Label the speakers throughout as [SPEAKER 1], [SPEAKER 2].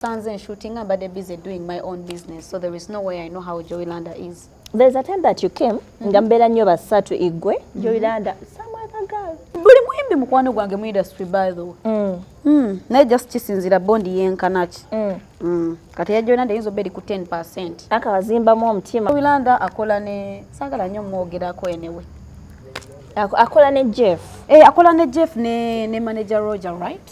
[SPEAKER 1] Sanze shootinga mbadde busy doing my own business so there is no way I know how Joey Landa is. There is a time that you
[SPEAKER 2] came mm-hmm. nga mbeera nnyo basatu igwe mm-hmm. Joey Landa some other girl. Buli muyimbi mukwano
[SPEAKER 1] gwange mu industry by the way. Mm. Mm. Naye just kisinzira bond yenkana ki. Mm. Mm. Kati ya Joey Landa yinza obeeri ku 10%. Akawazimbamu omutima.
[SPEAKER 2] Joey Landa akola
[SPEAKER 1] ne saagala nnyo mwogerako enewe.
[SPEAKER 2] Akola ne Jeff. Eh, akola ne Jeff
[SPEAKER 1] ne, ne manager Roger right?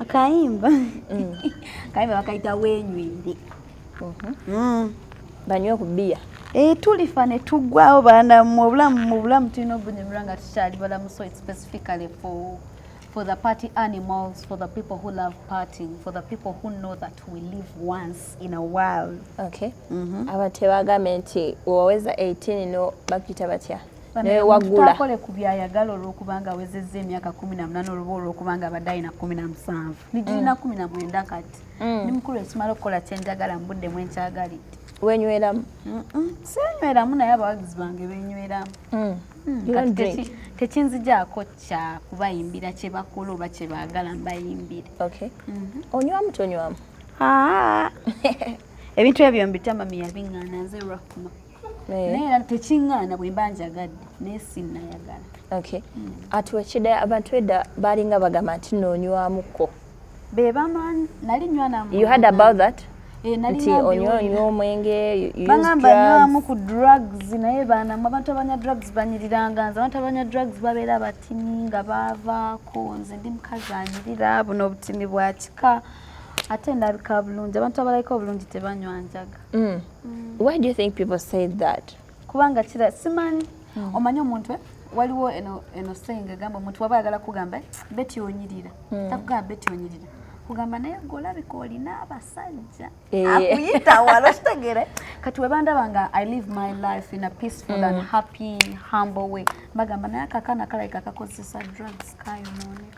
[SPEAKER 2] akayimba
[SPEAKER 1] mm. akayimba bakayita wenywende mhm.
[SPEAKER 2] mm. banywe ku bbiya eh, tulifa ne
[SPEAKER 1] tuggwawo baana mu obulamu mu bulamu tulina obunyumirwa nga tukyali balamu so it specifically for for the party animals, for the people who love partying, for the people who know that we live once in a while. Okay. Mm -hmm.
[SPEAKER 2] Abatebagamba nti woweza 18 no bakita batya? naye wagula akole ku byayagala
[SPEAKER 1] olwokubanga awezezza emyaka kumi na munana oluba olwokubanga abadde alina kumi na musanvu nigirina mm. kumi na mwenda kati mm. ni mukulu ekimala okukola kyenjagala mu budde mwenkyagalidde wenyweramu
[SPEAKER 2] senyweramu
[SPEAKER 1] naye abawagizi bange benyweramu mm. tekinzijaako kya kubayimbira kyebakola oba kyebagala mbayimbire mhm.
[SPEAKER 2] onywamu tonywamu
[SPEAKER 1] ebintu ebyo mbitama miyabiŋana nze rahma Eh. naye era tekiŋŋaana bwe mba njagadde naye sinnayagala okay
[SPEAKER 2] mm. atwekide abantu edda baalinga bagamba nti noonywamuko be
[SPEAKER 1] baman nali nywanam you had about that
[SPEAKER 2] eh, nti
[SPEAKER 1] onywa onywa
[SPEAKER 2] omwenge bagamba nywamu ku
[SPEAKER 1] drugs naye baanamu abantu abanya drugs banyiriranga nze abantu abanya drugs babeera batini nga baavaako nze ndi mukazi anyirira buno obutini bwa kika ate ndabika bulungi abantu abalabika obulungi tebanywa njaga mm. mm. why
[SPEAKER 2] do you think people say that kubanga kira
[SPEAKER 1] simanyi mm. omanyi omuntu eh? waliwo eno eno saying egamba omuntu waba ayagala kugamba eh, beti onyirira mm. takugamba beti onyirira kugamba naye golabika olina abasajja eh. akuyita wala okitegere kati webandaba nga i live my life in a peaceful mm. and happy humble way bagamba naye akakana kalabika kakozesa drugs kayonooneka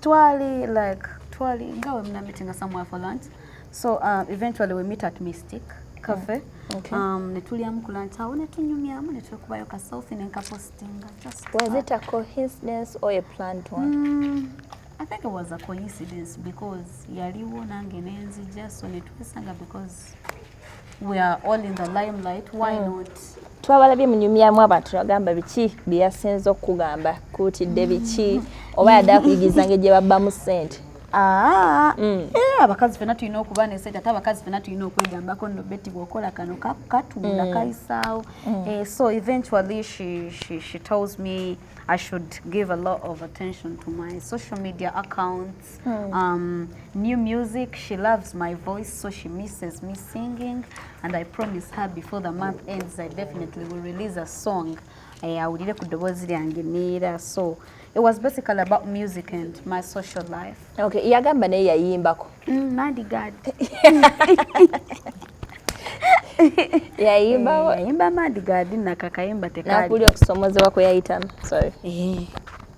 [SPEAKER 2] twali like twali nga we muna meeting somewhere for lunch so uh, eventually we meet at mystic cafe oh, okay. um, netulyamu ku lunch awo netunyumyamu netwekubayo ka selfie nenkapostinga just was it a coincidence or a planned one mm, I think it was a coincidence because yaliwo nange nenzija so netwesanga because we are all in the limelight why mm. not twabalabye munyumyamu abantu nagamba biki byeyasinza okukugamba kuutidde biki oba yadde akuyigiza nge gye babbamu ssente ah, mm.
[SPEAKER 1] eh, abakazi fena tulina okuba nesente ate abakazi fena tulina okwegambako no beti bwokola kano katunda mm. kayisaawo mm. eh, so eventually she, she, she tells me i should give a lot of attention to my social media accounts voice mm. um, new music she loves my voice so she misses me singing and i promise her before the month ends i definitely will release a song eh, awulire ku ddoboozi lyange neera so it was basically about music and my social life okay yagamba naye
[SPEAKER 2] yayimbako mm, madigad yayimbawo eh, yayimba madigad
[SPEAKER 1] nakakayimba tekali nakulya okusomozebwa
[SPEAKER 2] kwe yayitamu sorry eh.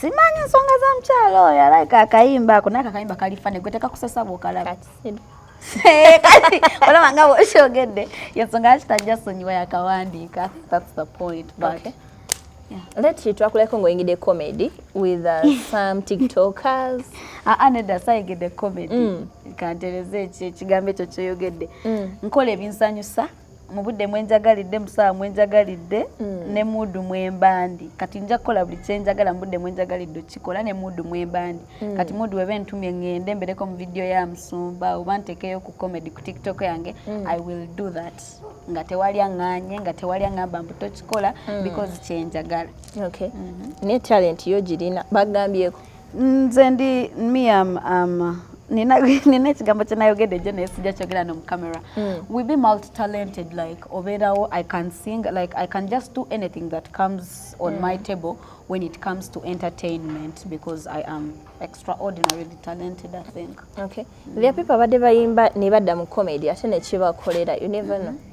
[SPEAKER 2] simanyi
[SPEAKER 1] ensonga za mukyalo oyo alaika akayimba ako naye kakayimba kalifane gweteka kusesa bwokalaba kati olaba nga bwokyogedde yensonga lwaki tajja sonyiwa yakawandiika thats the point but okay.
[SPEAKER 2] Leti twakuleko ngoyingide comedy with uh, some tiktokers ah, ah, nedda
[SPEAKER 1] sayigidde comedy mm. kantereza ekigambo ekyo kyoyogedde mm. nkola ebinsanyusa mu budde mwe njagalidde mu ssaawa mwe njagalidde mm. ne muudu mwe mbandi kati nja kukola buli kye njagala mu budde mwe njagalidde okukikola ne muudu mwe mbandi mm. kati muudu weba entumye ŋŋende mbereko mu vidiyo ya musumba oba ntekeyo ku comedy ku tiktok yange mm. i will do that nga tewali aŋŋanye nga tewali aŋŋamba mbu tokikola mm. because kye njagala okay. mm -hmm.
[SPEAKER 2] ne talenti yo girina bagambyeko nze ndi
[SPEAKER 1] miam um, nina ekigambo kyenayogedde ejo naye sijja kyogera no mucamera hmm. we be multitalented like obeerawo i can sing like i can just do anything that comes on mm. my hmm. table when it comes to entertainment because I am extraordinarily talented I think. Okay. Mm. There are people
[SPEAKER 2] abadde bayimba ne badda mu comedy ate ne kibakolera you never mm -hmm. know. Mm-hmm.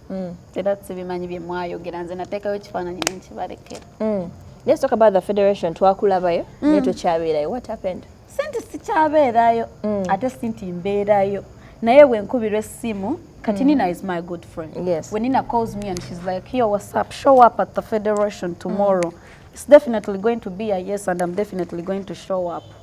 [SPEAKER 1] mm. era sibimanyi bye mwayogera nze nateekayo ekifaananyi
[SPEAKER 2] nenkibalekera mm. let's talk about the federation twakulabayo mm. naye tokyabeerayo what happened sinti
[SPEAKER 1] sikyabeerayo mm. ate sinti mbeerayo naye wenkubirwa essimu kati mm. nina is my good friend yes. when nina calls me
[SPEAKER 2] and she's
[SPEAKER 1] like yo what's up show up at the federation tomorrow mm. it's definitely going to be a yes and i'm definitely going to show up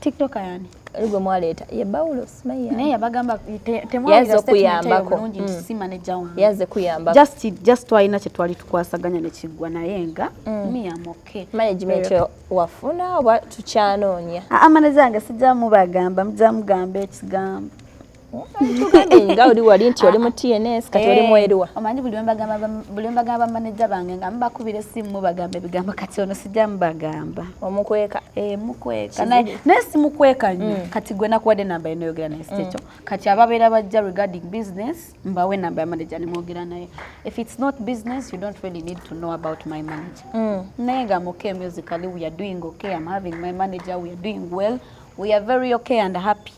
[SPEAKER 2] TikTok yani
[SPEAKER 1] gwe mwaleeta ye
[SPEAKER 2] bawulo simayiya naye yabagamba
[SPEAKER 1] temwayaze okuyambako mm. yaze kuyambako just
[SPEAKER 2] just twalina kye
[SPEAKER 1] twali tukwasaganya ne kiggwa naye nga mm. mi am okay management yo
[SPEAKER 2] wafuna oba tukyanoonya amane zange
[SPEAKER 1] sijja mubagamba mujja mugamba ekigambo
[SPEAKER 2] nga oli wali nti oli mu tns kati oli mweruwa eh, omanyi
[SPEAKER 1] buli wembagamba bamaneja bange nga mubakubira esimu mubagamba ebigambo kati ono sijja mubagamba omukweka eh,
[SPEAKER 2] mukweka
[SPEAKER 1] naye simukweka nyo mm. kati gwe nakuwadde enamba enoyogera naye sikyekyo mm. kati ababeera bajja regarding business mbawe enamba yamaneja nimwogera naye if its not business you don't really need to know about my manager mm. naye nga muke musically we are doing okay am having my manager we are doing well we are very okay and happy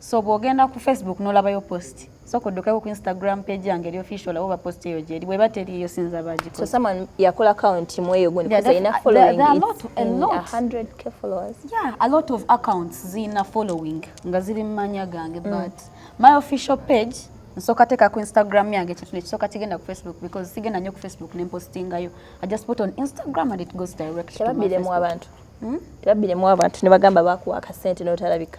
[SPEAKER 1] so bwogenda ku facebook nolabayo post soka oddukeko ku instagram page yange eri official olaba oba post eyo gyeri bweba teriyo sinza bagiko so someone yakola
[SPEAKER 2] account mu eyo gundi kusa ina following there, there it's a lot,
[SPEAKER 1] a lot. 100k followers
[SPEAKER 2] yeah a lot of
[SPEAKER 1] accounts zina following nga ziri mumanya gange mm. but my official page nsoka teka ku instagram yange ekintu nekisoka kigenda ku facebook because sigenda nyo ku facebook nempostingayo i just put on instagram and it goes direct to my facebook. tebabbiremu abantu hmm? tebabbiremu
[SPEAKER 2] abantu ne bagamba bakuwa akasente notalabika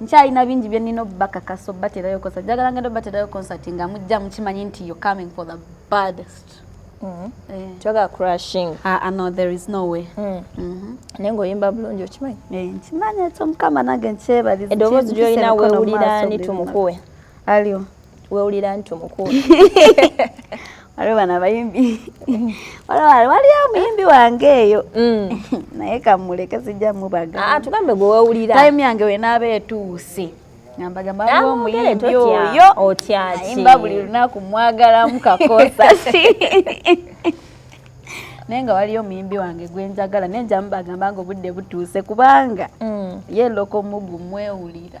[SPEAKER 1] nkyalina bingi bye nnina obubakakasa obubaterayo concert njagala ngenda obubaterayo concert nga mujja mukimanyi nti you're coming for the baddest mm-hmm.
[SPEAKER 2] eh. twagala crushing ah, ah, no there is
[SPEAKER 1] no way mm. mm-hmm. naye
[SPEAKER 2] ngaoyimba bulungi okimanyi eh, nkimanyi ekyo
[SPEAKER 1] mukama nange nkyebaliza edoboozi lyolina
[SPEAKER 2] wewulira ni tumukuwe alio
[SPEAKER 1] wewulira
[SPEAKER 2] nti omukulu
[SPEAKER 1] waliwo bano abayimbi waliyo omuyimbi wange eyo mm. naye kamuleke sijja mubaga ah, tugambe gwe wewulira
[SPEAKER 2] time yange wenaaba
[SPEAKER 1] etuuse ngambagambaomuyimbioyoyimba
[SPEAKER 2] buli lunaku
[SPEAKER 1] mwagalamu kakosa naye nga waliyo omuyimbi wange gwenjagala naye njamubagamba nga obudde butuuse kubanga mm. ye loko mugu mwewulira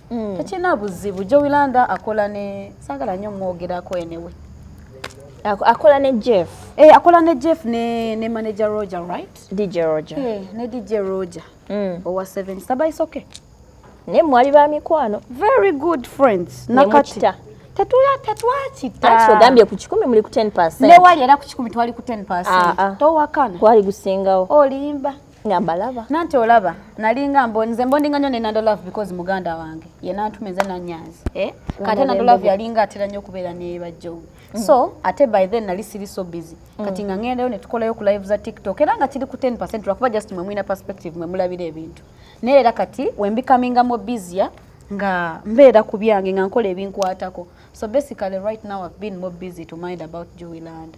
[SPEAKER 1] mm. tekirina buzibu jowilanda akola ne sagala nyo mwogerako enewe
[SPEAKER 2] akola ne jeff hey, eh, akola ne jeff
[SPEAKER 1] ne, ne manager roger right dj roger hey, eh,
[SPEAKER 2] ne dj
[SPEAKER 1] roger mm. owa 7 saba is okay naye mwali
[SPEAKER 2] ba mikwano very good
[SPEAKER 1] friends nakati
[SPEAKER 2] tetuya
[SPEAKER 1] tetwakita ogambye
[SPEAKER 2] ku kikumi muli ku 10 newali era ku kikumi
[SPEAKER 1] twali ku 10 ah, ah. towakana kwali gusingawo
[SPEAKER 2] olimba nga
[SPEAKER 1] mbalaba nanti
[SPEAKER 2] olaba
[SPEAKER 1] nalinga mbo nze mbondinga nyo ne nando love because muganda wange ye nantuma nze nanyanzi eh kate nando love yalinga atera nyo kubera ne bajjo mm. so ate by then nali siri so busy mm. kati nga ngenda ne tukola yo ku live za tiktok era nga kiri ku 10% lwakuba just mwe mwina perspective mwe mulabira ebintu naye era kati we becoming more busier nga mbeera ku byange nga nkola ebinkwatako so basically right now i've been more busy to mind about joey land